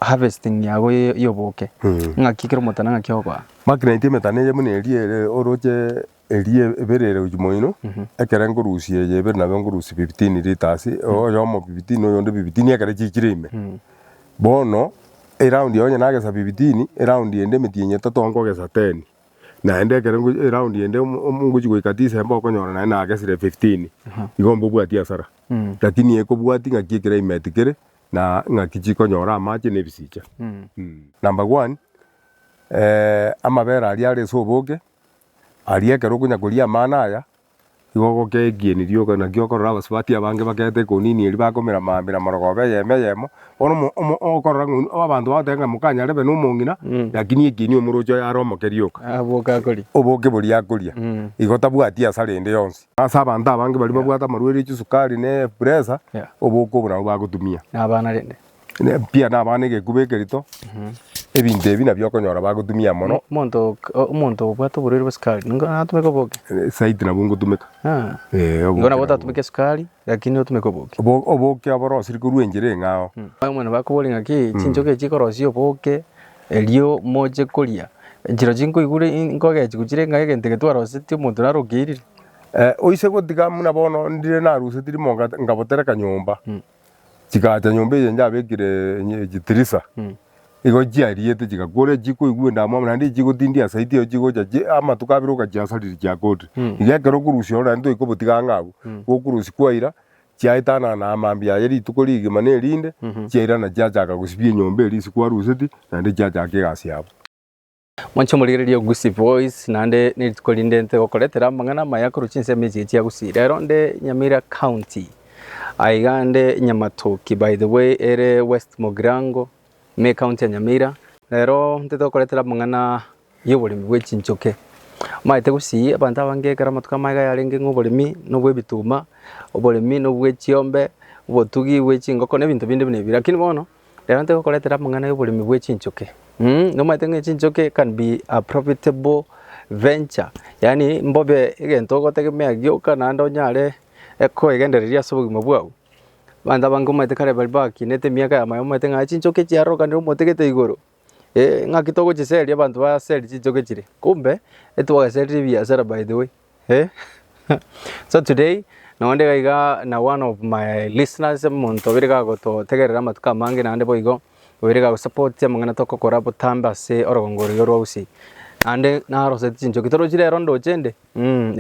harvesting yago y'oboke, ng'aki ekero omotana ng'aki ogoa. Magnet emetana eye buna eria ere oroche eria ebere ere gochia moino, ekere nkorusia eye ebere nabo nkorusia fifteen litres, oyomo fifteen oyonde fifteen ekero chiikire ime. Bono eround eye onye nagesa fifteen, eround ende emetienyi etato nkogesa ten, naende ekero ngochi eround ende ngochia goika December okonyora naende nagesire fifteen, igo mbobwati hasara. Lakini ekobwati ng'aki ekere ime etikire. na ing'aki chikonyora amache na ebisicha. Number one, amabere aria are ase oboke, aria ekero okonya koria amano aya, igo ogokea ekieni rioka, naki okorora abasubati abange bakeete ekonini eria bakomera maambia na morogoba eyemo eyemo, bono omo okorora ng'a oyio abanto bagoteba ng'a mokanyarebe na omong'ina, lakini ekieni omorochi oye are omoke rioka. Aboke akoria. Oboke boria akoria, igo tabwati hasara ende yonsi. Ase abanto abange baria babwate amarwaire chisukari na epresa, Yeah. oboke obo nabo bagotumia. Na abana rende. Ne- Pia na abana egekuba ekerito, ebinto ebi nabio okonyora bagotumia mono, Mo- Monto ok- o- omonto obwate oborwaire bwa sukari. Ningo natumeke oboke. eh, saiti nabo ngotumeka. Ah. Eh, oboke Ningo nabo nabo. otatumeke sukari, lakini otumeke oboke. Obo- Oboke aborosiri korwa enchera eng'ao. Abamwene bakobori ng'aki chinchoke chikorosia oboke Erio moche koria enchera chinkoigure nkogechi gochira ng'a egento eke twaroseti omonto narokeirire. Oise gotiga muna bono ndire narusetiri monga ngabotereka nyomba, chigacha nyomba eye njabekire chitirisa, igo chiariete chigakwa ore chikoigwa endamwamu naende echi chigotindia asaiti eyo chigocha chi amatuko abere okachiasariri chiakorire. Iga ekero okorusia ore naende toikobotiga ang'e abwo, gokurusia kwaira chiaetanana amambia aye rituko rigima nerinde, chiairana chiachaka gosibia enyomba eria ase kwaruseti, naende chiachaka egasi yabo. Mwanche omorigereria ogusie boys, naende nerituko rinde nte gokoretera amang'ana amaya korwa chinsemo echi echiagusie. Rero nde Nyamira County, aiga nde Nyamatoki, by the way ere West Mogirango, me county ya Nyamira. Rero ntete gokoretera amang'ana y'oboremi bwe chinchoke. Omanyete gosii abanto abange ekero amatuko amaya iga yarenge ng'a oboremi nobwe ebituma, oboremi nobwe chiombe, obotugi bwe chingoko na ebinto binde buna ebi. Rakini bono, rero ntoigo gokoretera amang'ana y'oboremi bwe chinchoke. Nomanyete ng'a chinchoke can be a profitable venture, yaani mbobe egento ogotegemea gioka naende onyare ekoegendereria ase obogima bwao. Abanto abange omanyete kare baria bakinete emiaka eye amaya omanyete ng'a chinchoke chiarokanire omote gete igoro, Ng'aki togochiseria abanto baserie chinchoke chire kumbe ntibwaserie ebiasara by the way so today nonye onde iga iga na one of my listeners omonto obeire iga agototegerera amatuko amange naende boigo obeire iga agosapoti amang'ana tokokora botambe ase orogongo rore rwa usiiyi naende narosetie chinchoki torochi rero ndoche inde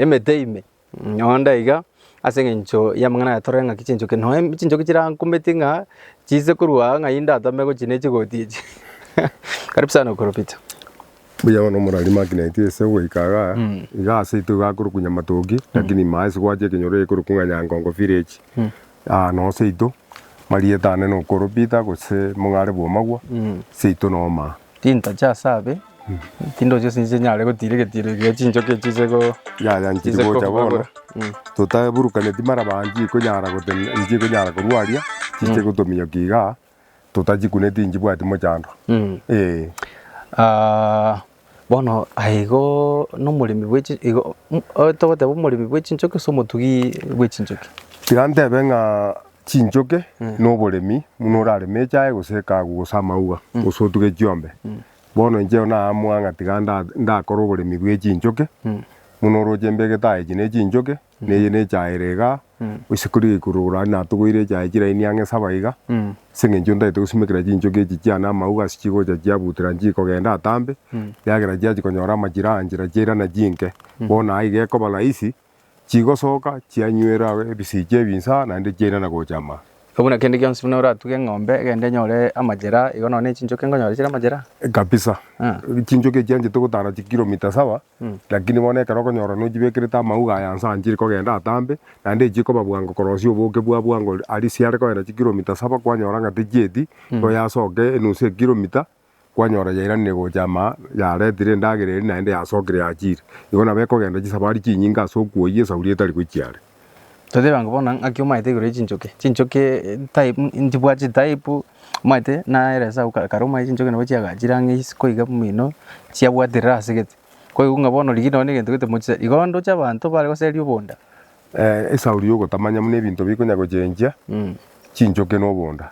emete ime. Nonda iga, ase engencho y'amang'ana aya torore ng'aki chinchoki. Nonya chinchoki chirankumeti ng'a chiise korwa aa ng'ai ndatome gochia ne chigoti echi. Karibu sana Okoro Peter. Mbuya bono omorari Magneti ase goika iga, iga ase itogo akorokwa Nyamatoki, lakini ime ase gwachia ekenyoro ekorokwa ng'a Nyangongo village. Aa noo seito, marieta ane nokoro Peter gose mong'are bw'omagwa, seito noo maa. Tintacha ase abe, tindoche ase inche nyare gotiira egetiiro ekiya chinchoki echi chize ko. Yaya nchiri gocha bono, totaburukaneti mara baa nchikonyara gotenena nchikonyara korwaria, chiche gotominyokia igaa. totachikuneti nchibwati mochando ee. Aa, bono aye igo nomoremi bwe chi- igo mm, o- togoteba omoremi bwe chinchoki gose omotugi bwe chinchoki? Tiga ntebe ng'a chinchoke na oboremi buna orareme echae gose ekagu gose amauga gose otuge chiombe. Bono inche naamua ng'a tiga nda- ndakore oboremi bwe chinchoke buna oroche mbegete aye echi ne chinchoke Neye nechaere iga, gose kori gekururukora aria natogoire echae chiraini ang'e saba iga, ase eng'encho ntagete gosimekera chinchoki echi chiane amauga ase chigocha chiabutera nchikogenda atambe, ekiagera chiachia konyora amachire aa nchera chiairana chinke. Bono aa iga ekoba rahisi, chigosoka chianywera ebisicha ebi inse aa naende chiairana gocha ama. Igo buna kende gionsi buna oratuge eng'ombe egende enyore amachera aa, igo nonya ne chinchoki nkonyora chire amachera aa. Kabisa. Chinchoki echi chianchete gotara chikiromita saba, Lakini bono ekero okonyora nochibekerete amauga aya inse anchire kogenda atambe, naende echi ekoba bwango korosia oboke bwa bwango aria chiare kogenda chikiromita saba kwanyora ng'a techieti, igo yasoke enusu ekiromita kwanyora yairanire gocha amaa yaretire endagera eria naende yasokire yachire. Igo nabo ekogenda chisabari chinyinge ase okwoyia esauri etari gochia are. Totebe ang'o bono ng'aki omaete igoro ye chinchoki, chinchoki type nchibwati chitype omanyete nere ase agwo kare omanyete chinchoki nabo chiagachire ang'e isiko iga omino chiabwaterera ase gete. Koigwa ng'a bono rigiya nonye na egento gete mochia igo ndoche abanto bare goseria obonda. Esauri ya ogotamanya buna ebinto bikonya gochenchia chinchoki na obonda.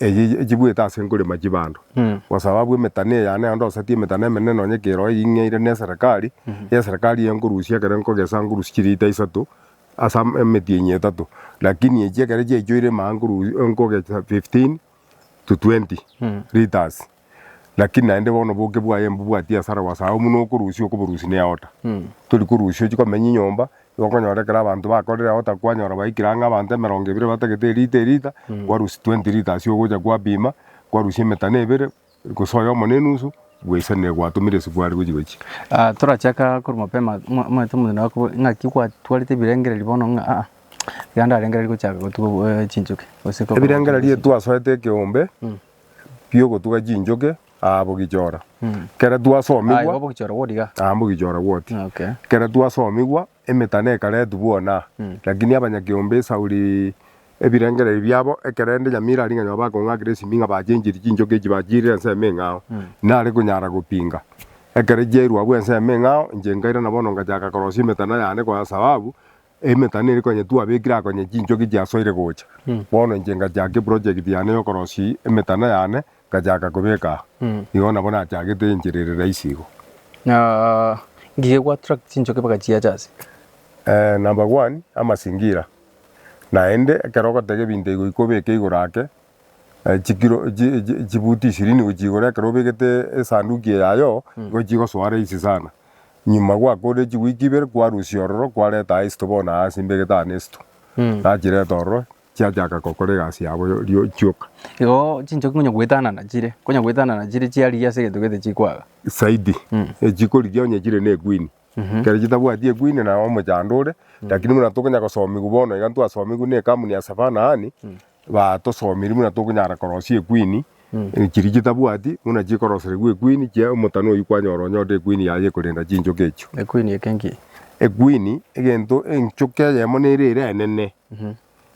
eye echibwete ase nkorema chibando. Gose ababwo emetani eyane naende osatie emetani emenene nonye keroo ing'eire ne eserekari, eserekari eye nkorusia ekero nkogesa nkorusia chiliita isato ase am- emetienyi etato. Lakini echi ekero chiaichoire maa nkoru- nkogesa fifteen to twenty litres. Lakini naende bono boke bwaye mbobwatie asara wasao buna okorusia okoborusi ne aota. Tori korusia ochi komenya inyomba, igo okonyora ekero abanto bakorire aota kwanyora baikire ang'e abanto emerongo ebere batagete elita elita, kwarusia twenty litres ogocha kwapima, kwarusia emetano ebere, gose oyomo ne enusu, bwaisanire gwatomire esubari gochi gochi. Torachaka korwa mapema mwa- omanyete omonto naye akobo- ng'aki gwatwarete ebirengererio bono ng'a aa, iga ndarengereria gochaka gotuga chinchoki gose ko- Ebirengererio twasoete ekeombe, biogotuga chinchoke aa bogichora. Kera twasomigwa. Aye bogichora gwodiga. Aa mbogichora gwoti. Okay. Kera twasomigwa emetano ekaretwa bwona lakini abanyakiombe esauri ebirengererio biabo ekerende nyamira aria ng'anywa bakong'akire esimi ng'a bachenchirie chinchoke echi bachiirire ensemo eng'ao nare konyara gopinga. Ekero chiairwa abwo ensemo eng'ao inche nkairana bono ngachaka korosia emetano yane kwa sababu Emetano eria konya twabekire aa konya chinchoki chiasoire gocha, bono inche ngachaaka eprojekti yane y'okorosia emetano yane, ngachaaka kobeka aa. Igo nabo nachagete enchera ere rahisi igo. Na ngigee goattract chinchoki mpaka chiacha ase. Number one, amasingira. Naende ekero ogotega ebinto igoika obeke igoro ake, chikiro chi chi chibuti ishirini gochia igoro ekero obegete esanduki eye yaye oo, igo chigosoa rahisi sana. Nyuma gwakorire chiweek ibere kwarusia ororo kwareta Aisto bono aase imbegete aa Nesto. Gachireta ororo chiachaka gokora egasi yabo yo chioka. Igo chinchoki konya goetanana chire, konya goetanana chire chiarigia ase egento gete chikwaga. Zaidi. Echikorigia onye chire ne ekwini. Ekero chitabwati ekwini na omochando ore, lakini buna tokonya gosomigwa bono iga ntwasomigwe ne ekamuni ya Savana Ani, Batosomirie buna tokonyara korosia equeen chiria chitabwati buna chikoroseregwa equeen chia omotano oyio kwanyora onye ore equeen yaye ekorenda chinchoke echio. Equeen eke nki? Equeen egento enchoke eyemo nere ere enene.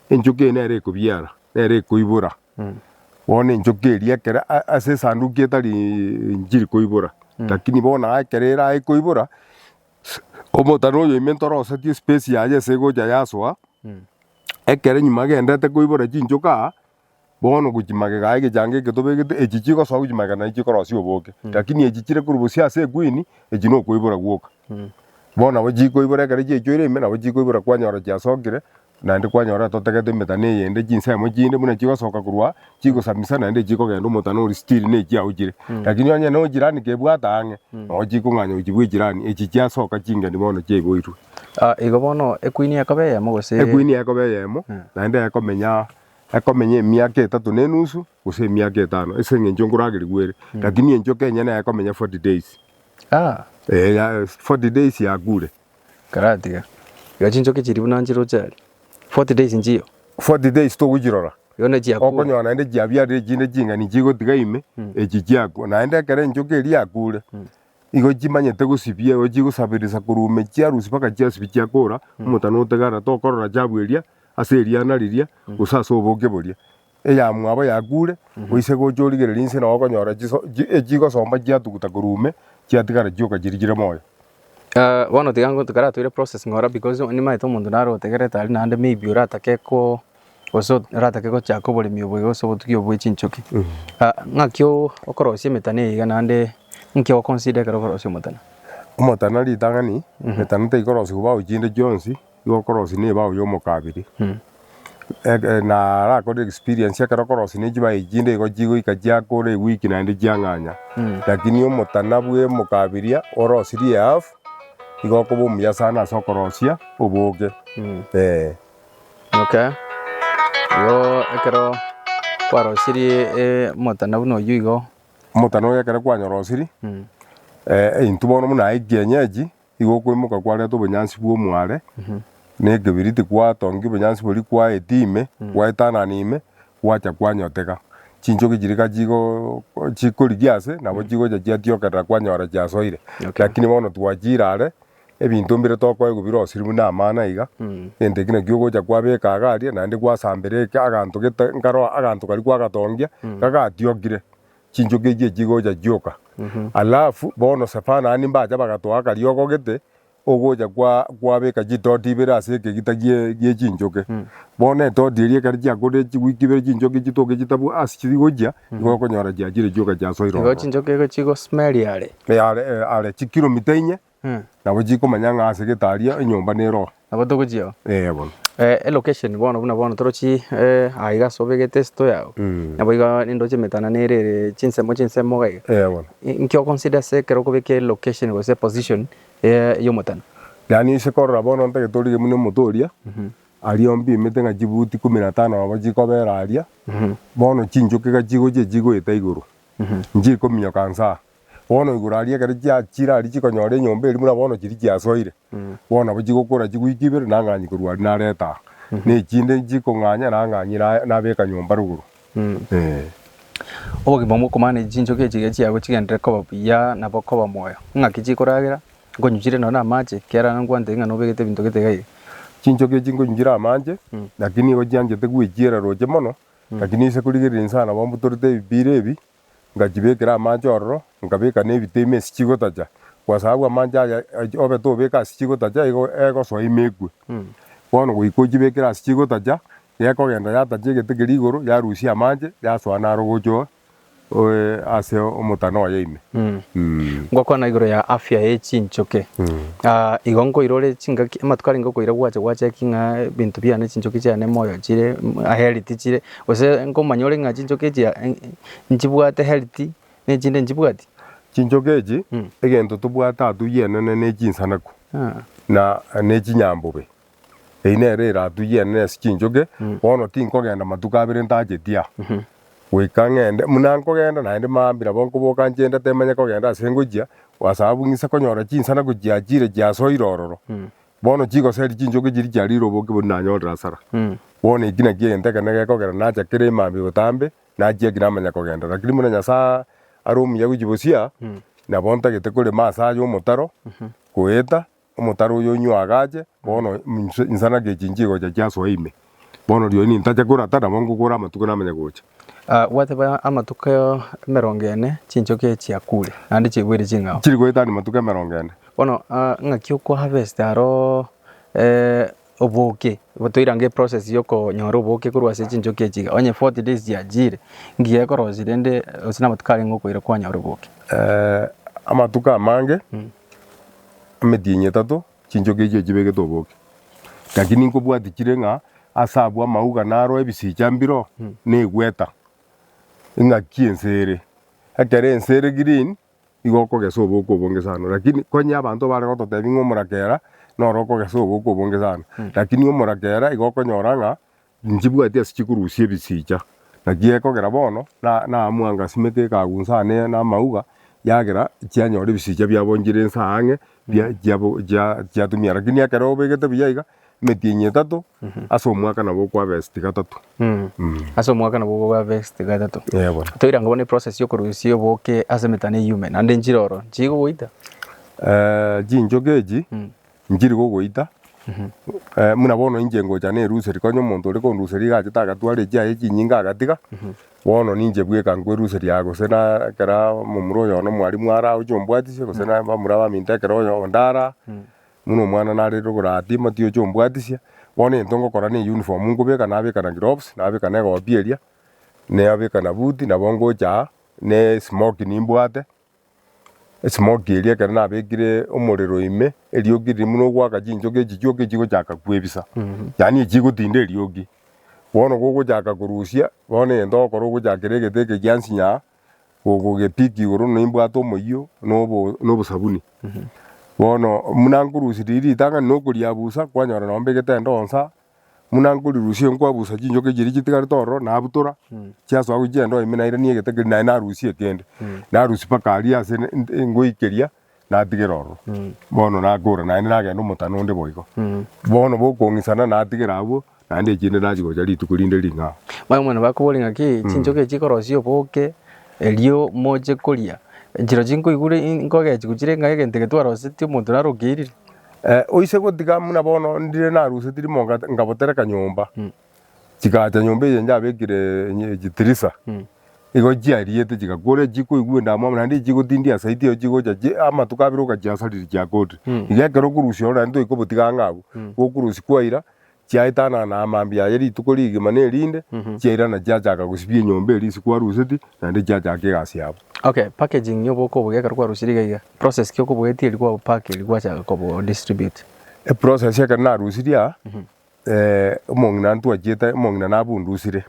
Enchoke eye nere ekobiara nere ekoibora. Bono enchoke eria ekero ase esanduki etari njiri koibora lakini bono ekero erae koibora omotano oyo ime ntorosetie space yaye ase egocha yasoa. Ekero nyuma agenderete koibora chinchoka aa, bono gochia magega aya egechanga eke tobegete, echi chigosoa gochia magega nachi chikorosia oboke. Lakini echi chire korwa bosio ase equeen, echi na okoibora gwoka. Bono nabo chikoibora ekero chiachoire ime, nabo chikoibora kwanyora chiasokire, naende kwanyora totagete emetano eyende, chinsemo chinde buna chigosoka korwa aa, chigosamisa naende echi chikogenda omotano oria still na echiago chire. Lakini onye no jirani kebwate ang'e, nabo chikong'anya gochia bwa echirani, echi chiasoka chingeni bono chiaiboirwe. Ah, igo bono ekwini ekobe eyemo gose ekwini ekobe eyemo Eh. naende ekomenya ekomenya emiaka etato na enusu gose emiaka etano ase eng'encho nkoragerigwa ere lakini enchoka enyene ekomenya 40 days Ah, Eh, ya- 40 days yakure karatiga. Iga chinchoki chiria buna nchiroche aria. 40 days nchiyo. 40 days togochirora Igo ne chiakure. okonyora naende chiabiarire chinde ching'ani chigotiga ime echi chiakwa naende ekero enchoka eria yakure Igo chimanyete gosibia erio chigosaberesa korwa ime chiarusia mpaka chiasibia chiakora, omotano oteganera tokorora chabu eria ase eriana riria gose ase oboke boria. Eya mwabo yakure, oise gocha origererie inse nao okonyora chiso chi echigosomba chiatuguta korwa ime chiatigara chioka chiria chire moyo. Bono tiga ngonto karatoire process ng'ora because nimaete omonto naro otegerete aria naende maybe oratake ko Gose oratake gochaka oboremi oboigo gose obotugi obo bwe chinchoki, ng'aki okorosia emetano eye iga naende nki ogo consider ekero okorosia omotano? Omotano ritang'ani, emetano tekorosiwa bao chinde chionsi, igo okorosia ne bao y'omokabere. Na arakore experience ekero okorosia ne chibaye chinde igo chigoika chiakora ewiki naende chiang'anya. Lakini omotana bwe omokabiria orosirie half, igo okoba omuya sana ase okorosia oboke, eh. Imoke, igo ekero kwarosirie eh, omotana buna oyio igo, Omotana oyo ekero kwanyorosirie eh, eintu bono buna aye kienyeji, igo okwemoka kwareta obonyansi bwa omware na ekebiriti kwatongia obonyansi boria kwaetia ime, gwaetanana ime, gwacha kwanyoteka. Chinchoki chiria ka chigo chikorigia ase, nabo chigocha chiatiokerera kwanyora chiasoire. Okay. Lakini bono twachiire are, Ebinto mbire tokoegwa birosirie buna amana iga, egento ekio nakio ogocha kwabeka iga aria, naende gwasambera eke aganto gete nkarora aganto karia kwagatongia iga gatiokire, chinchoki echio chigocha chioka. Alafu bono Sefano naende mbacha bagatoa akariogo gete ogocha kwa kwabeka chitoti ibere ase ekegita gie gie chinchoki. Bono etoti eria ekero chiakorire chiweek ibere chinchoki chitoke chitabwo ase chigochia, nigo okonyora chiachire chioka chiasoire Igo ororo. chinchoki igo chigo smellie are. Eh, are, eh, are chikilomita inye nabo chikomanya ng'a ase getaria enyomba nere oo Nabo togochiao. Eh, bono Eh, elocation bono buna bono torochi eh, aiga ase obegete esito yao Mm. nabo iga nindoche emetana nere ere chinsemo chinsemo iga iga Eh, bono inki oconsider ase ekero okobeka elocation gose eposition ya ya omotano yaani ase korora bono ntagete orige buna omote oria aria ompimete ng'a chibuti ikomi na tano nabo chikobera aria bono chinchoki iga chigochia chigoeta igoro Inche ikominyoka nsa aa. Bono igoro aria ekero chiachire aria chikonyora enyomba eria buna bono chiria chiasoire, bono nabo chigokora chigoika ibere nang'anyi korwa aria narete aa. Na echinde nchikong'anya nang'anyi nabeka nyomba rogoro. Ee. Obogima bw'okomanage chinchoki echi iga chiago chigenderere koba buya nabo koba moyo. Ng'aki chikoragera? Nkonyuchire nonya amache, ekiagera nabo nkwantebi ng'a nobegete ebinto gete iga iga. Chinchoki echi nkonyuchire amache, lakini nigo chianchete gwechiera roche mono, Lakini inse korigereria inse aye nabo mbutorete ebipiira ebi, ngachibekera amache ororo, nkabeka nebito ime ase chigotacha, kwa sababu amache aya obe tobeka ase chigotacha igo egosoa ime ekwe. Bono goika ochibekire ase chigotacha, gekogenda yatacha egete keria igoro, yarusia amache, yasoa naro gochoo oe ase omotano oye ime. Mh. Ngokwana igoro ya afya ye chinchoki. Aah, igo nkoirore chingaki amatuko arenge okoira gwacha gwacheki ng'a ebinto biane chinchoki chiane moyo chire healthy chire gose nkomanya ore ng'a chinchoki echi nchibwate healthy na echinde nchibwati? Chinchoki echi egento tobwate atuyeene ne chinsanaku na ne chinyambobe. Eye nere erato y'ane na ase chinchoge, bono tinkogenda matuko abere ntacheti aa, goika ng'ende. Buna nkogenda naende maambia nabo nkoboka nche ndatemanya kogenda ase ngochia, gwasababu ng'ise konyora chinsana gochia chire chiasoire ororo, bono chigoseria chinchoge chiria chiarire oboke bori nanyorire asara. Bono eki nakio egento ekenene gekogera nacha kera emambia botambe, nachia eki namanya kogenda. Rakini buna Nyasae are omuya gochia bosia, nabo ntagete korema ase aye omotaro, goeta, Omotaro oyo onywe agache, bono inse insanagia echi nchigocha chiasoa ime. Bono rirorio nintache korata, nabo ngokora amatuko namanye gocha. Ah, gwateba amatuko emerongo ene chinchoki echi chiakure, naende chiegwere ching'ao. Chiri goetania amatuko emerongo ene. Bono ah, ng'aki okoharvesta aro eh, oboke, igo toirenge eprocess yokonyora oboke korwa ase chinchoki echi iga, onye forty days chiachiire, ngiya ekorosia rende gose namatuko arenge okoira kwanyora oboke. amatuko amange, emetienyi etato, chinchoki echio chibegete oboke. Lakini nkobwati chire ng'a ase abwo amauga naroe ebisicha mbiroo, negweta, eng'aki ense ere. Ekero ense ere green, nigo okogesa oboko obonge sana. Rakini konya abanto bare gototebia ng'a omorakera noro okogesa oboko obonge sana, rakini omorakera igo okonyora ng'a nchibwati ase chikorusia ebisicha. Naki gekogera bono na naamwanga asimeke ekagu inse aa ne namauga, yagera chianyora ebisicha biabonchire inse aa ang'e, chia chiabo chia chiatumia. Rakini ekero obegete buya iga. emetienyi etato ase omwaka nabo okoharvest gatato. Ase omwaka nabo okoharvest gatato. Eeh bono. Toira nko bono eprocess ya okorusia oboke ase emetano eyume naende enchera oro nchiri kogoita? chinchoke echi nchiri kogoita buna bono inche ngocha nerusia riko onye omonto ore konduseria iga achete agatwara echiaye echinyinge agatiga, bono ninche bweka nkoeruseria gose na ekero momura oyo one omwarimu are aa oche ombwatisie gose na bamura abaminto ekero oyo onde are aa. Buna omwana nare rogoro aa Timothy oche ombwatisia, bono egento ngokora ne eyuniform nkobeka nabeka na gloves, nabeka na egoti eria, nabeka na buti, nabo ngocha aa, na esmoki nimbwate, esmoki eria ekero nabekire omorero ime, eriogi riria buna ogwaka chinchoki echichuoki echigochaka kwebisa, yaani echigotinda eriogi. Bono gogochaka korusia, bono egento ogokora ogochakera egete eke giansinya aa, gogepiki igoro na imbwate omoyio na obosabuni. Bono muna nkorusia riria ritang'ani na okoriabusa, kwanyora nonye mbegete endonsa, muna nkorirusia nkwabusa chinchoka echi chiria chitigarete ororo, nabutora chiasoa gochia endoo ime nairania egete keria naye narusia ekende. Narusia mpaka aria ase ngoikeria. natigera ororo, bono nagora naende nagenda omotano onde boigo. Bono bokong'isana natigera abwo, naende ekiagera nachia gocha rituko rinde ring'ao. Bono muna bakobore ng'aki, chinchoki echi ikorosia oboke, erio moche koria. Chirochio nkoigure in- nkogechigwa chire ng'a egento eke twaroseti omonto naro okeirire. Eh, oise gotiga muna bono ndire naruseti rimonga nkabotereka nyomba, Chigaacha nyomba eye yabekire chitirisa, igo chiariete chigakora echio chikoigwa endamwamu amo, naende echio chigotindia asaiti eyo chigocha amatuko abere okachiasariri chiakoorire. Iga ekero okorusia ororo naende toiri kobotiga ang'e abwo, okorusia kwaira chiaetana na amambia aye rituko rigima na erinde, chiairana chiachaka gosibia enyomba eria ase kwarusetie naende chiachaka egasi yabo. Okay, packaging ya oboke oboiga ekero kwarusirie iga iga, process ki okoboetia riria kwa opack riria gwachaka kobo distribute? Eprocess ekero narusirie aa, Eh, omong'ina ntwachiete, omong'ina nabundusire.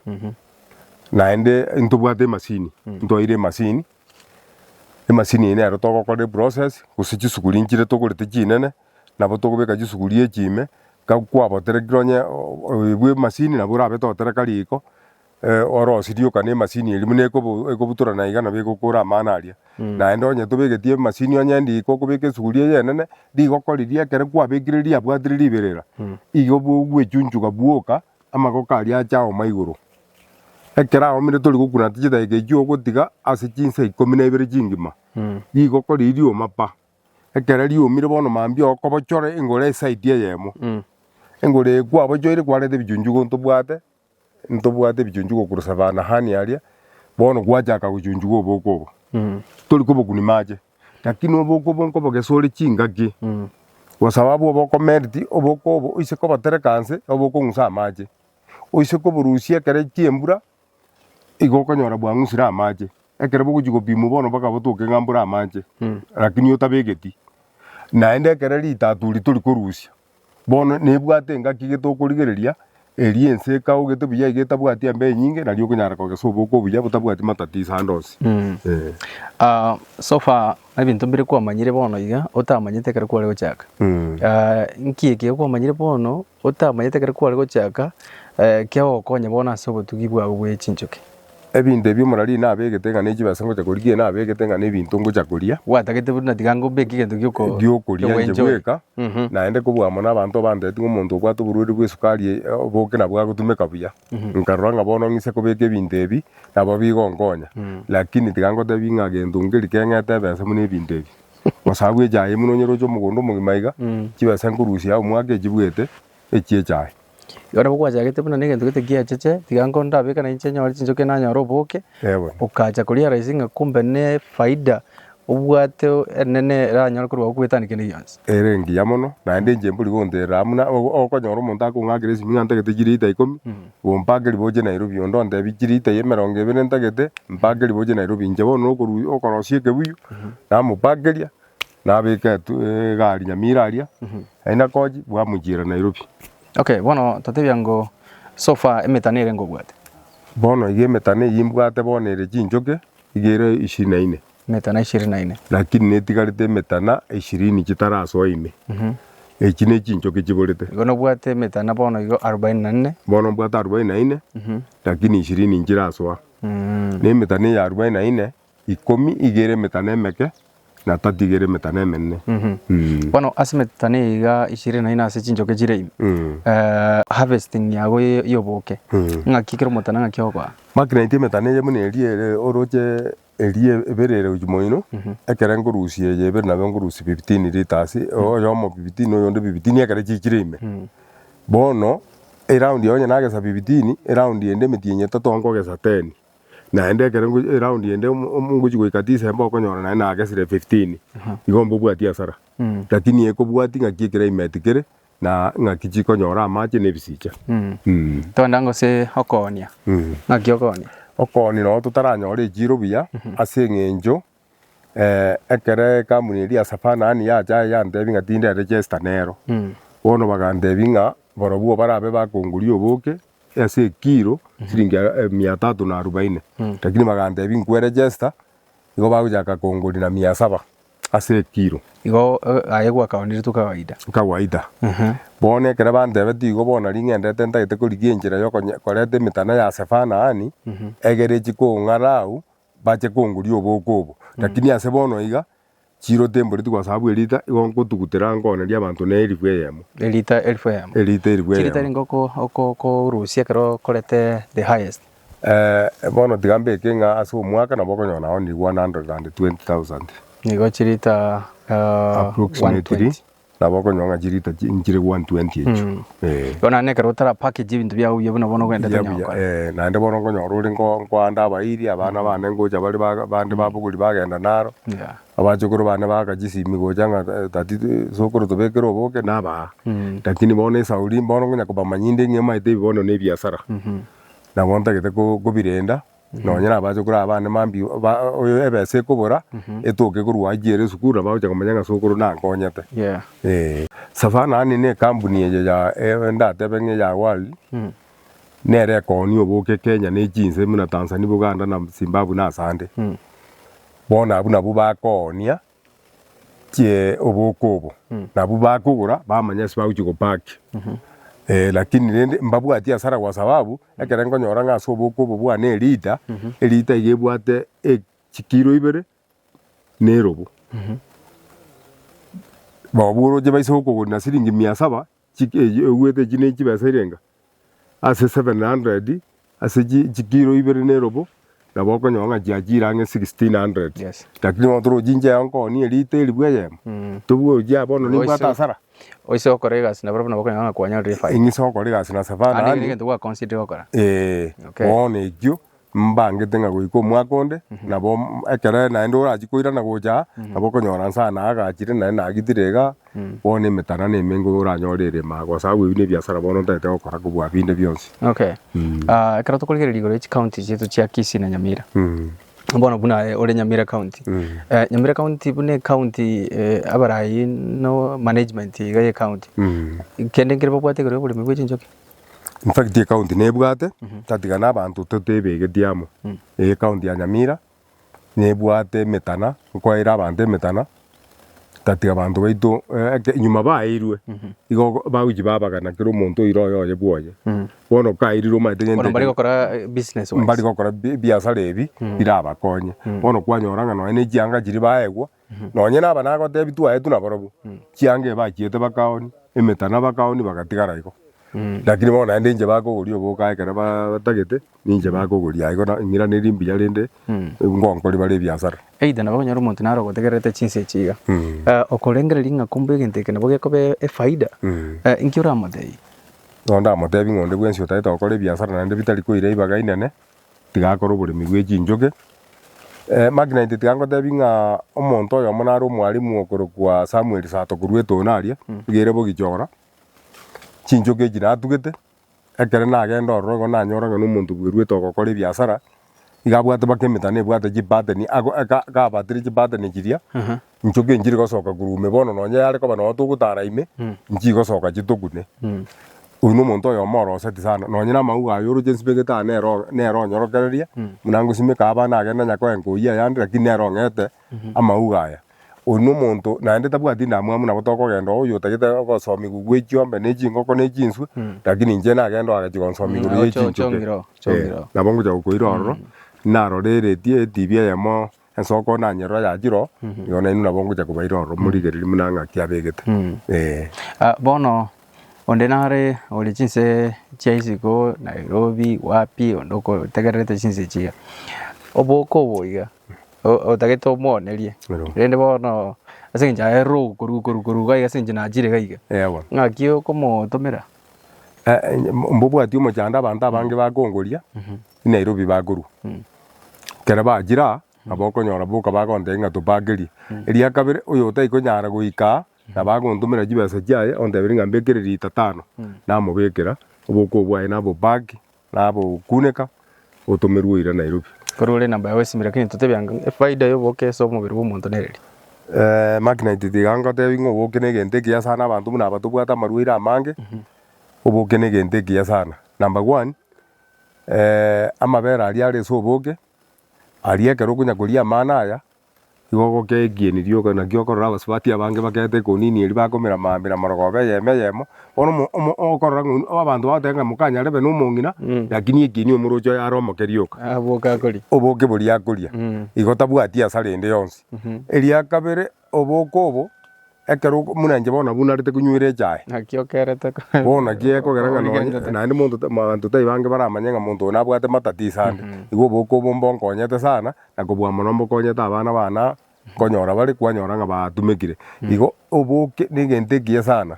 Naende ntobwate emasini, ntwaire emasini. Emasini eye nero togokora eprocess, gose chisuguri nchire togorete chinene, nabo togobeka chisuguri echi ime, ka kwaboterekire onye o- o- oyo bwe emasini nabo orabete otereka riko, Orosi rioka nemasini eria buna ekobutora na iga nabo egokora amano aria. Naende onye tobegetie emasini onye riko okobeka esuguri eye enene, rigokoriria ekero kwabekire riabwatire riberera, igo bwechunchuga bwoka amagoko aria ache aoma igoro. Ekero aomire tori gokuna ata chidakika echio ogotiga ase chinsa ikomi na ibere chingima, rigokoriria rioma pa. Ekero riomire bono mambia okobochore engoro esaidi eyemo. Engoro eye kwabochoire kwareta ebichunchugo ntobwate Ntobwate ebichunchwa gokurusa Abaanahani aria, bono gwachaka gochunchigwa oboke obo, tori kobokuni mache, lakini oboke obo nkobogesa ore chingaki, gosaba abwo bokomeriti oboke obo oise kobotereka nse obe okong'usa amache, oise koborusia ekero chiembura igo okonyora bwang'usire amache, ekero bogochia gopimwa bono mpaka botoke ng'a mbore amache, lakini otabegeti, naende ekero ritato riria tori korusia, Bono nebwate engaki getokorigereria, eria ense ekaogete buya iga etabwati embe enyinge, nari okonyara kogesa oboko obuya botabwati matatizo ande onsi. Eh. Ah, so far ebinto mbire kwamanyire bono iga otamanyete ekero kware gochaka Mm. Ah, nki eke okwamanyire bono otamanyete ekero kware gochaka eh, kiagokonya bono ase obotugi bwao bwe chinchoki Ebinto ebi omorari nabegete ng'a ne chibesa ngocha korigia eye nabegete ng'a n'ebinto ngocha koria. Gwatagete buna tiga ngombeke egento gioko Giokoria inche gwenchoria. bweka, Mhm. naende kobua amo nabanto obanteteti ng'a omonto obwate oborwaire bw'esukari eye, eh, boke nabwo agotumeka buya. Nkarora ng'a bono ng'ise kobeka ebinto ebi, nabo bigonkonya. Lakini tiga ngotebi ng'a gento nkeri keng'ete ebesa buna ebinto ebi. Osabu echaye buna onyeroche omogondo omogima iga, chibesa nkorusia omwaka echibuete, echie chaye. Yona nabo gwachagete buna negento gete giacheche, tiga nko ndabeke na inche nyore chinchoki nanyore oboke, okacha koriara ase ng'a kumbe nefaida obwate enene eranyore korwa agwo kwetania kende gionsi. Ere engiya mono, naende inche mbori gonterera aa buna okonyora omonto akong'akera esimi ng'a ntagete chilita ikomi, ompake riboche Nairobi, onde ontebie chilita eye emerongo ebere ntagete, mpake riboche Nairobi. Inche bono nokorwa okorosikia ekebuyu, namopakeria. Nabeke etu egari nyamira aria naende nakochi bwamuchiera Nairobi. Okay bono totebia ngo so far emetano ere ngobwate. Bono iga emetano eyio imbwate bono ere chinchoke iga ere ishirini na ine. Emetana ishirini na ine. Lakini netigarete emetana ishirini chitarasoa ime. Echi ne chinchoke chiborete. Igo nobwate emetana bono igo arubaini na nne. Bono mbwate arubaini na ine lakini ishirini nchirasoa. Ne emetana eye arubaini na ine ikomi igere emetano emeke na tatu igere emetano emenene. Mm. Bono ase emetano iga ishirini na ine ase chinchoke chire ime Mm. eh, harvesting yago ye- y'oboke Mm. ng'aki ekero omotana ng'aki ogoa Maki naitwe emetano eye buna eria ere oroche eria ebere ere gochia moino ekere nkorusia eye ebere nabo nkorusia 15 litres oyomo 15 oyonde 15 ekere chichire ime bono eround yago onye nagesa 15 eround ende emetienyi etato nkogesa 10 Naende ekero ngochi- eround ende omo- omo- ngochi goika December okonyora naende nagesire fifteen, igo mbobwati hasara. Lakini eye kobwati ng'aki eclimate kere, na ng'aki chikonyora amache na ebisicha. Mh. Toenda gose okoonia. Naki okoonia. Okoonia nabo totaranyore echiro buya, ase eng'encho ekero ekampuni eria ya Savana yaani yacha yantebia ng'a tinde register nero, bono bagantebia ng'a barobwo barabe bakongoria oboke ase ekilo siringi mia tatu na arubaini, lakini bagantebia nkwe register igo bagochaka kongoria na mia saba ase ekilo. Igo aye gwakaoneretwe kawaida. Kawaida. Bono ekero bantebetie igo bono nari ng'endete ntagete korigia enchera ya okonya koreta emetano ya Savana yaani, egere echi kong'ara agwo bache kongoria oboko obo, lakini ase bono iga chiro temboreti kwa sababu erita igo ngotugutera nkoneria abanto ne elifu eyemo. Erita elifu eyemo. Erita elifu eyemo. Chirita rinde oko- oko- okorusia ekero okorete the highest. Eh, bono tiga mbeke ng'a ase omwaka nabo okonyora nao ni one hundred and twenty thousand. Nigo chirita ah, Approximately. 120. Nabo okonywa ng'a chirita nchire 120 echio. Eh. Bono naende ekero otara package ebinto biago buya buna bono ogende Buya tonya buya, gokora. eh, naende bono nkonyora ore nko- nkoande abairi abana bane ngocha bare ba- bande babogori bagenda naro Yeah. abachokoro bane baaka chisimi gocha ng'a eh, tati eh, sokoro tobekere oboke nabaa Mm. lakini bono esauri bono nkonya kobamanyinde ng'a emaete ebi bono nebiasara nabo ntagete ko- kobirenda Nonya nabachokoro aba bande mambia ba- oyo ebesa ekobora etoke korwa haji ere esukuru nabo bagocha komanya ng'a sokoro nankonyete. Yeah. Eh, Savana yaani ne ekambuni eye ya eh, ndatebe ng'a eya World nere ekooni oboke Kenya ne chinse buna Tanzania, Buganda na Zimbabwe na ase ande. Bono abwo nabwo bakoonia. chie oboko obo nabwo bakogora bamanya ase bagochia gopack eh lakini rende mbabwatie hasara kwa sababu ekero nkonyora ng'a ase oboko obo bwane elita elita iga ebwate e chikiro ibere na erobo. Nabo oroche baise gokogorera na siringi mia saba Chigecho oigwete echi ne chibesa irenga ase seven hundred ase chikiro ibere ne robo nabo okonyora ng'a chiachire ang'e sixteen hundred lakini bono toroche inche yao nkooonie liita eribwo eyemo tobua ochi aa bono nimbwate hasara. Oise gokora egasi na barabwo nabo okonyora ng'a kwanyorire efaida. Ing'ise gokora egasi na savana. Ande kende egento gwa consider gokora. Eeh bono ekio Mbangete ng'a goika omwaka onde, nabo ekero naende orachie koirana gocha aa, nabo okonyora nse aa nagachire naende nagitire iga aa, bono emetara ne emengo oranyore erema aa, gose agwo ebi ne ebiasara bono otagete gokora kobua binde bionsi. Okay. Ah, ekero tokorigereria igoro ya chicounty chiaito chia Kisii na Nyamira, bono buna aye ore Nyamira county, eh, Nyamira county buna ecounty eh, abarai no management iga y'ecounty, kende nkere babwate igoro y'oboremi bwe chinchoki? In fact ecounty nebwate tatiga na abanto totebegeti amo. Eye county ya Nyamira nebwate emetana nkoeire abanto emetana tatiga abanto baito nyuma baeirwe igo bagochi babagana kera omonto oire oye oye bwoye. Bono kaeirwe omanyete gento Bono mbare ekero gokora business wise. mbari gokora bi- biasara ebi birabakonye. Bono kwanyora ng'a nonya ne chianga chiria baegwa Nonye naba nagotebia twaetwe nabarobwo, chianga eye bachiete bakaoni, emetana bakaoni bagatigara igo. Lakini bono naende inche bakogoria oboka ekero ba- batagete, ninche bakogoria aigo na ing'iraneria imbuya rende ngonkoria bare ebiasara. Either nabo okonyora omonto naro ogotegererete chinsa echi iga, eh, okorengereria ng'a kumbe egento eke nabo gekoba efaida, eh, inki oramotebia? Bono ndamotebia ng'a onde bwensi otaete gokora ebiasara naende bitari koira ribaga inene, Tigakora oboremi bwe chinchoge. Magnite tigangotebi ng'a omonto oyomo nare omwalimu okorokwa Samuel Sato korwa etono aria, iga ere bogichora, chinchoge echi natugete, ekero nagenda ororo igo nanyora ng'a na omonto bweruete ogokora ebiasara, iga abwate mpaka emetana ebwate chipattern, ako aka kabatire chipattern chiria, Inchoka enchiri gosoka korwa ime bono nonya yare koba nonya togotara ime nchigosoka chitokune. Oyio nomonto oyomo oroseti sana nonya na amauga aye oroche nsimegete aa nero nero onyorokereria buna ngosimeka aba nagende nonya koenka oyio ayande lakini nere ong'ete amauga aya. Oyio nomonto naende tabwati ndamwamu nabo tokogenda oo oyio otagete ogosomi gokwa echiombe na echingoko na echinswe lakini inche nagende oo agachia gonsomi igoro ya echinchoke. Nabo ngocha gokoira ororo narorereti etibi eyemo Ensoko na nyororo ya chiro, igo nainwe nabo ngocha kobaira ororo, morigererie buna ng'aki abegete. Ee. Ah, bono onde nare ore chinse chia isiko Nairobi wapi onde okotegererete chinse echi iga oboke obo iga o- otagete omwonerie Ero. rende bono ase eng'encho aerire ogokoru koru koru iga iga ase eng'encho nachire iga iga Ewa. ng'aki okomotomera Eh, eh, mbobwati omochando abanto abange bakongoria, I Nairobi bakorwa. Ekero bachire aa, nabo okonyora boka bagontebia ng'a topakerie. Eria kabere oyo otai konyara goika aa, nabo agontomera chibesa chiaye onteberi ng'a mbekere lita tano. Namobekera, obokong'u bwaye nabopaki, nabokuneka, otomerwe oira Nairobi. Korwa ore namba yao esimire lakini totebia ng'a efaida y'oboke ase omobere bw'omonto nere ri? Eeh, Magnite tiga ngotebie ng'a oboke na egento ekiya sana, abanto buna aba tobwate amarwaire amange, oboke na egento ekiya sana. Number one, Amabera aria are ase oboke, aria ekero okonya koria amano aya, nigo ogokea ekieni rioka. Naki okorora abasubati abange bakeete ekonini eria bakomera maambia na marogoba eyemo eyemo. Bono omo omo okorora ng'a oyio abanto bagoteba ng'a mokanyare abe na omong'ina, lakini ekieni omoroche oye are omoke rioka. Aboke akoria. Oboke boria akoria. Igo tabwati hasara ende yonsi. Eria kabere, Oboke obo, ekero oko- buna inche bono nabwo narete konywera echae, Naki okerete ko- bono naki gekogera ng'a nonye Origenchete. naende monto ta- abanto tari bange baramanye ng'a monto oyo nabwate matatiso ande. Igo oboke obo mbonkonyete sana, na kobua mono mbokonyete abana baane aa, nkonyora bare, kwanyora ng'a batumekire. Igo oboke na egento ekiya sana.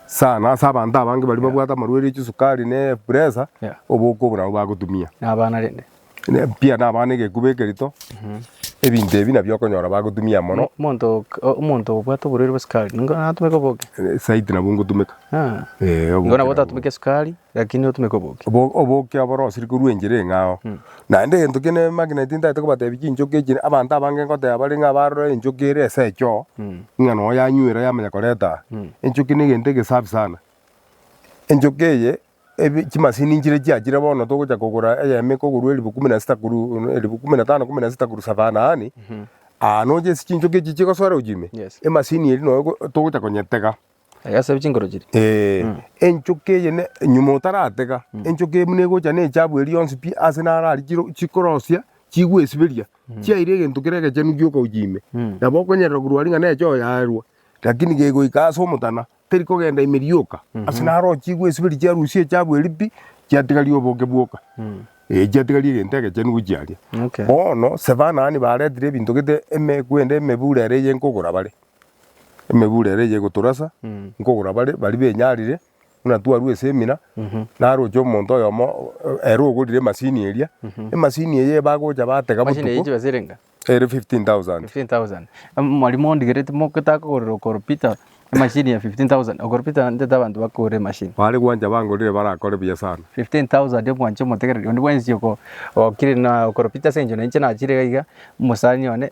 sana ase abanto abange baria Yeah. babwate amarwaire chisukari ne pressure, Yeah. oboke obo nabo bagotumia. Na abana rende. Ne pia na abana egekuba ekerito, ebinto ebi nabio okonyora bagotumia mono, Mo- Monto ok- o- omonto obwate oborwaire bwa sukari, ningo natumeke oboke. eh, saiti nabo ngotumeka. Ah. Eh, oboke Ningo nabo nabo. otatumeke sukari, lakini otumeke oboke. Obo- oboke aboro osiri korwa enchera eng'ao, Naende egento kende nemageneti ntagete kobatebia chinchoki echi, abanto abange ngoteba bare ng'a barore enchoki ere ase echoo, ng'a nonya yanywire yamanya koreta aa. Enchoki na egento egesafi sana. Enchoki eye, ebi chimasini nchire chiachire bono togocha kogora eyemo ekogorwa elifu kumi na sita korwa elifu kumi na tano kumi na sita korwa savanani, aa nonya ase chinchoki echi chigosoera gochia ime, emasini eria nonya togocha konyetega. Egesa chinkoro chiria. Ee, enchoka eye ne nyuma otaratega, enchoka eye buna egocha na echabu eria yonsi pi ase naro aria chiro chikorosia chigwesiberia, chiaira egento kere egechenu gioka gochia ime. Nabo okonyerora korwa aria ng'a neche oyaerwa, lakini gegoika ase omotana, teri kogenda ime rioka, ase naro chigwesiberia chiarusia echabu eria pi, chiatigaria oboke bwoka. Ee chiatigaria egento egechenu gochia aria. Okay. Bono sebanani baretire ebinto gete eme kwende emebura ere eyenkogora bare. emegure ere eye egotorasa, nkogora bare, baria benyarire, buna twarwa esemina, naroche omonto oyomo ere ogorire emasini eria, emasini eye bagocha batega Machine eye botuko, chibesa ere enga? ere fifteen thousand. 15,000. Em, Mwarimo ondigereti mogotaka kogorera okoro Peter emachine ya 15,000. Okoro Peter ntete abanto bakore emachine. Bare gwancha bangorire barakore buya sana. 15,000 omwancha omotegereri, onde bwensi oko- okire na okoro Peter ase eng'encho nainche nachire iga, omosani one.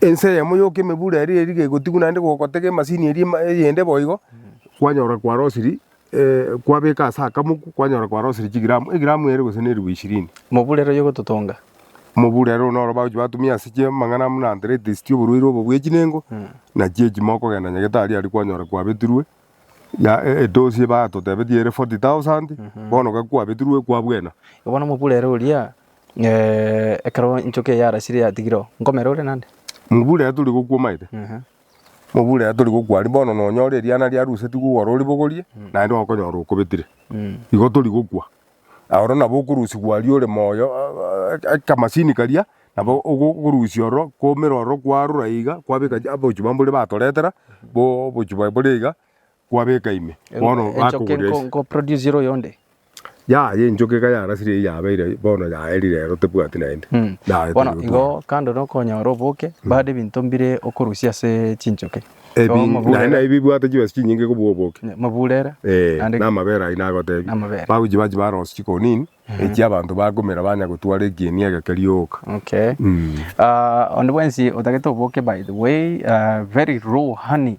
Ense eyemo yoka emebura eria eri gegotigwa naende gogotega emasini eria ema eyende boigo, kwanyora kwarosirie kwabeka ase akamoku kwanyora kwarosirie chigramu egramu ere gose na eribu ishirini. Mobura ere oyogototonga. Mobura ere noro bagochi batumia ase chia amang'ana buna arthritis chia oborwaire obo bwa echinengo, na chia echimo okogenda nyagetari aria kwanyora kwabetirwe ya e- edosi batotebetie ere forty thousand, bono gaki kwabetirwe kwabwena. Bono mobura ere oria, Eh, ekero enchoka eye yarasire yatigire oo, nkomera ore nande? Mobura ere tori gokwa omaete. Ehe. Mobura ere tori gokwa aria bono nonyore eriana riarusetigwe igoro oribogorie, naende okonyora okobetire. Mm. Igo tori gokwa. Oro nabo okorusigwa aria ore moyo ah, ah, akamasini karia, nabo ogo- okorusia ororo, kwaumera ororo kwarora iga, kwabeka chi- abochie babo mbore batoretera, bo obochie bwaye bore iga, kwabeka ime, bono Enchoka bakogoria enko- ase. nkoproducera oyonde. Yaya enchoka iga yarasire eyio yabeire ayio, bono yaeri rero tebwati naende. Mm. Naye Bono teri igo gotwara. kando na okonyora oboke, bade ebinto mbire okorusia ase chinchoke. Igo Ebi, naye maburere- naye bibwate chibesa chinyinge kobua oboke. maburere, Eh, naende na amabere ayio nagotebi. Na amabere. Bagochi bachi barosia chikonini, echia abanto bakumera banya gotwara ekieni egeke rioka. Okay. Mm. Ah, onde bwensi otagete oboke by the way, ah, very raw honey.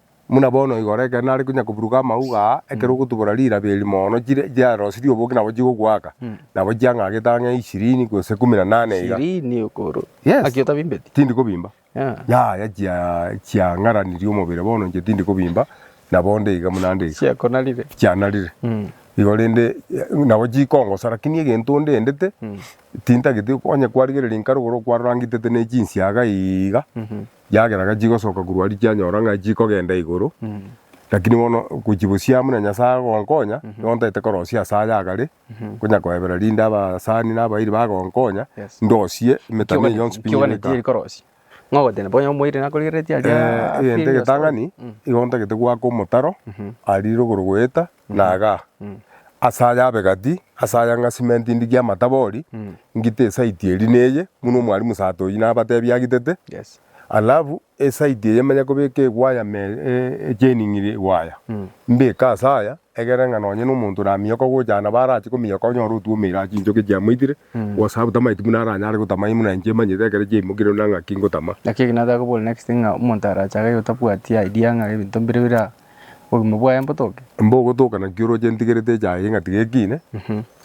Buna bono igoro ekero nare konya koburuka amauga aa, ekero ogotubora rirabi eri mono, chire chiarosirie oboke nabo chigogoaka, nabo chiang'agete ang'e ishirini gose kumi na nane iga. Ishirini okoro. Yes. Aki otabimbeti? Tindi kobimba. Yeah. Yaya chia chiang'aranirie omobere bono inche tindi kobimba, nabo onde iga buna ande iga. Chiakonarire. Chianarire. Mm. Igo rende eh, nabo chikongosa lakini egento ndendete, tintageti onye kwarigereria nkarogora okwarora ngitete ne chinsiaga iiga, Kiagera ga chigosoka korwa aria chianyora ng'a chikogenda igoro, lakini bono gochibosiaa muna Nyasae agonkonya, nigo ntaete korosia ase aya agare, nkonya koebera rinde abasani na abairi bagonkonya, Yes. ndosie emetano eye yonsi pi Kiogani nyebeka. tiri korosia. Ng'a ogotena bonya omoiri nakorigeretie aria. Eh, egento egetang'ani, igo ntagete goaka omotaro, aria rigoro goeta, na aga, ase aya abe gati, ase aya ng'a simenti ndigie amatabori, ngite esaiti eri na eye, buna omwalimu sato oyio nabatebie agitete, alafu esaiti eye manye kobeka ewaya me e- chaining ria ewaya, mbeke ase aya, egere ng'a nonye na omonto oramiyoka gocha nabo arache komiyoka onyore otwomeire ase chinchoki chiamoitire, kwa sababu tamaeti buna aranyare gotama ime buna inche emanyete ekero chiaimokire buna ng'aki ngotama. Naki eke nataka kobora next ng'a omonto arache iga otabwati idea ng'a ebinto mbire bira obogima bwaye mbotoke. Mbogotoka naki oroche ntigerete echaye ng'a tigekine,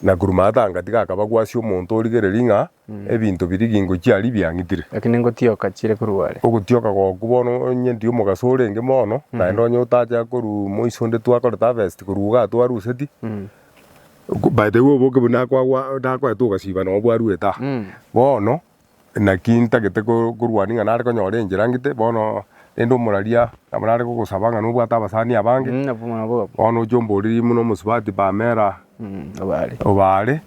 na korwa maata anga tigakaba gwasi omonto origereria ng'a ebinto biria gingochia aria biang'itire. Lakini ngotioka chire korwa are. Ogotioka goku bono onye ndi omogaso orenge mono, naende onye otacha korwa moiso onde twakorete harvest korwa igaa twaruseti, by the way oboke buna nakwagwa nakoete ogasiba noo bwarwete aa. Bono. Naki ntagete korwania ng'a nare konyora enchera ngite bono, rende omoraria nabo nare gogosaba ng'a nobwate abasani abange, bono oche omborerie buna omosubati Pamela obaare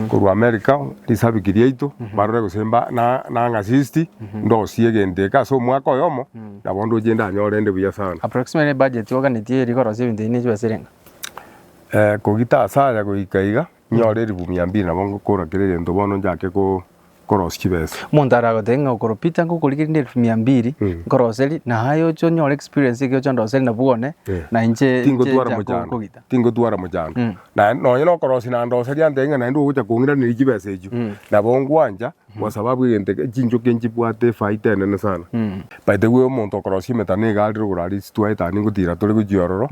korwa America, risabiki riaito barore gose mba na nang'a sisti ndosie egento eke ase omwaka oyomo nabo ndoche ndanyore rende buya sana. Approximately budget oganetie eri korosia ebinto ebi ne chibesa ere ng'a? Kogita asaya goika iga. Nyore erifu mia mbiri nabo ngokora kera egento bono njake ko korosi chibesa. Omonto aragote ng'a okoro Peter ngokorigia rinde erifu mia mbiri nkoroseri na aye oche onyore experience eke oche ondoseri nabwo one na inche Tingotwara mochando kogita. Tingotwara mochando. Naye nonye na okorosi na ndoseria antebie ng'a naende ogocha kong'iraneria chibesa echio nabo ngwancha kwa sababu egento eke chinchoki nchibwate efaita enene sana. But we omonto okorosia emetano iga arire igoro aria ase twaetania ngotira tore gochia ororo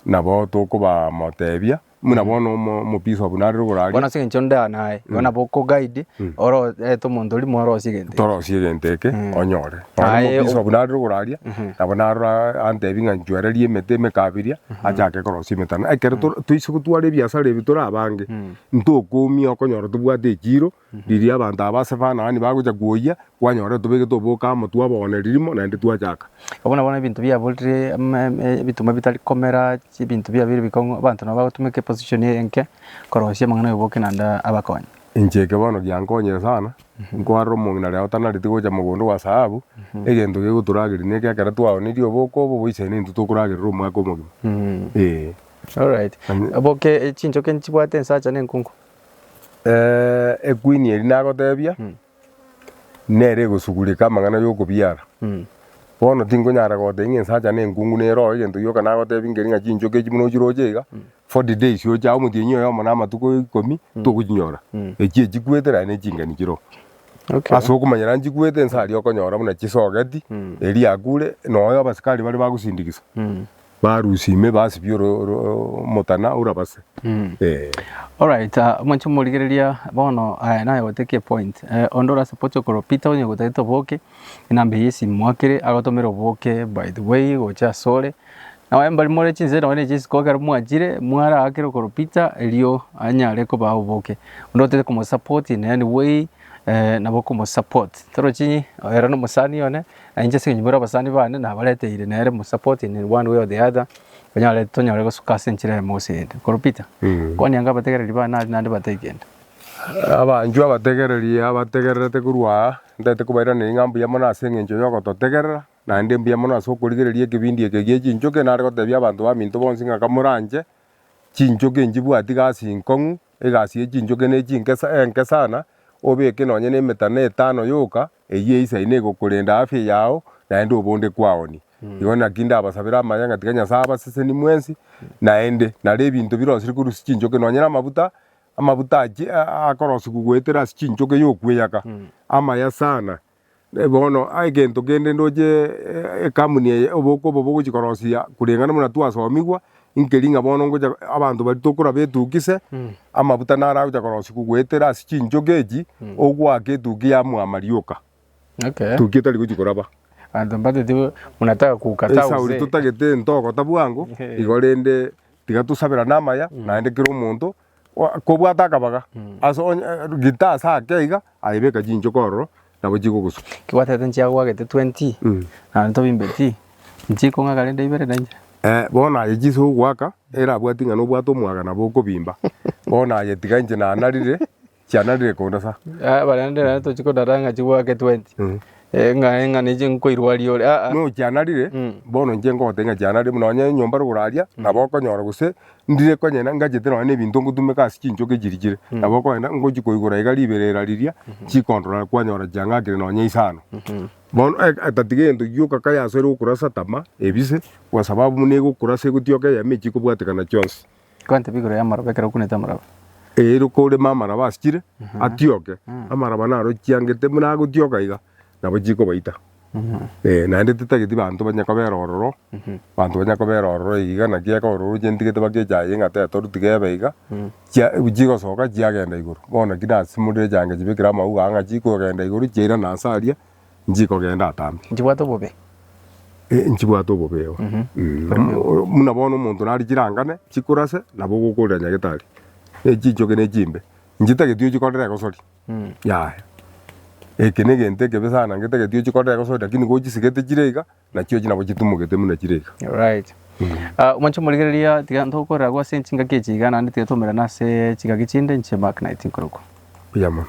nabo tokoba motebia Buna bono omobisa obo narire igoro aria. Bono ase eng'encho nda naye, igo nabo okoguide, oro ete omonto oria morosie egento eke. Torosie egento eke onyore. Nonya Aye, omobisa obo narire igoro aria, nabo narora a- antebi ng'a nchwererie emete emekabiria, achake korosia emetano. Ekero to- toise gotwara ebiasara ebi tore abange, ntokumia okonyora tobwate ekiiro, Riria abanto aba ase Kanaani bagochia kwoyia, kwanyora etubeke tobooka amo, twabogana ririmo, naende twachaka. Abwo nabwo nebinto biaborire ime ime ebituma bitari komera chi ebinto biabire bikong'u abanto nabo bagotumeka eposition eye enke korosia amang'ana ya oboke naende abakonye. Inche eke bono giankonyire sana, nkoarora omong'ina ria otanareti gocha mogondo gwa sahabu, egento gegotorageria neke ekero twaonirie oboke obo boisaine intwe tokoragerera omwaka omogima. Eeh. Alright. Oboke chinchoke nchibwate ensacha na enkungu. Equeen eri nagotebia, nere egosugureka amang'ana y'okobiara. Bono tinkonyara gotebia ng'a ensacha na enkungu nere oo egento gioka nagotebia nkere ng'a chinchoke echi buna ochiroche iga, forty days ocha aye omotienyi oyomo na amatuko ikomi tokochinyora. Echi echikwete naende ne ching'eni chire oo. Ase okomanyera nchikwete nsa aria okonyora buna chisogeti, eria yakure, nonya abasikari baria bagosindikisa. Barusia ime basibie oro- oro- oro- omotana orabase. Eh. Alright, ah, mwanche morigereria bono eh, naye goteki epoint eh, onde orase poche okoro Peter onye gotagete oboke enamba eye esimu mwakere agotomera oboke by the way gocha asore naye mbari more chinse nonye na echi isiko ekero mwachire mwaraakere okoro Peter erio anyare kobaa oboke onde otagete komosupport in any way eh, nabo okomosupport torochi ere nomosani one. Na inche ase eng'encho bare abasani bane nabareteire nere mu support in one way or the other, onyore tonyore gosuka ase enchera eyemo gose eyende. Korwa Peter, kwania inga abategereri bane nari naende batebie kende. Abanchwa abategereri abategererete korwa aa, ntaete kobairaneria ng'a mbuya mono ase eng'encho yogototegerera, naende mbuya mono ase okorigereria ekebindi eke gie chinchoki, nare gotebia abanto baminto bonsi ng'a kamoranche, chinchoki nchibwati gasi nkong'u, egasi ye chinchoki ne chinkesa enke sana, obeke nonye nemetano etano yoka, Eyio eisai negokorenda afya yao naende obonde kwaoni. Igo naki ndabasabere amaya ng'a tiga Nyasae abaseseni mwensi naende nare ebinto birosire korwa ase chinchoke, nonyene amabuta, amabuta achie akorosigwa goetera ase chinchoke yokweyaka amaya sana. Bono egento kende ndoche ekamuni eye oboke obo bogochi korosia koreng'ana buna twasomigwa, inkeri ng'a bono ngocha abanto baria tokoraba etukia ise, amabuta naro agocha korosia kogoetera ase chinchoka echi, ogoaka etukia ya mwama rioka, Okay. etukia etari gochia koraba. Abanto mbatete monataka kouka Esauri thousand. totagete ntogota bwango, Ehe. igo rende tiga tosaberane amaya, naende kera omonto kobwata akabaga ase onye gita ase ake iga aebeka chinchoka ororo nabo chigogosuka. Kebwatete nchiagwagete 20 Mm. naende tobimbeti nchikong'aka rende ibere na inche. Eh, bono aye chise ogwaka erabwati ng'a nobwate omwaga nabo okobimba. Bono ayetiga inche nanarire chiananire kondasa. Ah, baria ndire naye tochi kodara ng'a chigwake 20 Mm. Eh, ng'a ng'a nechi nkoirwaria ore ah, ah. No chianarire Mm. bono inche ngogotebia ng'a chianarire buna onye enyomba rogoraria nabo okonyora gose ndire konyene ngachete nonye na ebinto ngotumeka ase chinchoki chiri chire nabo okogenda ngochi koigora iga riberera riria chikondora kwanyora chiang'akire nonye isano bono eh, tatiga egento gioka kayasoire gokurasa tama ebise kwa sababu buna egokurasa egotioka eyemo echi ekobwatekana chionsi. Kwantebia igoro y'amaraba, ekero okunete amaraba. Ere okorema amaraba asikire atioke, amaraba naro chiangete buna agotioka iga, nabo chikobaita. Ee, naende titageti banto banye kobera ororo, banto banye kobera ororo iga, naki ekero ororo ochentigete bagecha aye ng'a teta orutike ebe iga, chia chigosoka chiagenda igoro. Bono naki nasimorire echianga chibekire amauga aa ng'a chikogenda igoro chiairana ase aria, nchikogenda atambe. Nchibwate obobe. Eh, nchibwate obobe igo. Mm. Muna bono omonto nari chirangane chikurase nabo ogokorera nyagetari ne chinchoke ne chimbe nchitageti ochikorera egosori yaya. Eke ne egento ekebe sana ngetageti ochikorera egosori lakini gochisigete chire iga Na chiochi nabo chitumogete buna chire iga. Alright. Ah, mwanche omorigereria tiga ntokorera agwo ase chingaki echi iga naende tiga twaumerana ase chingaki chinde inche Mark Knight nkorokwa. Buya mono.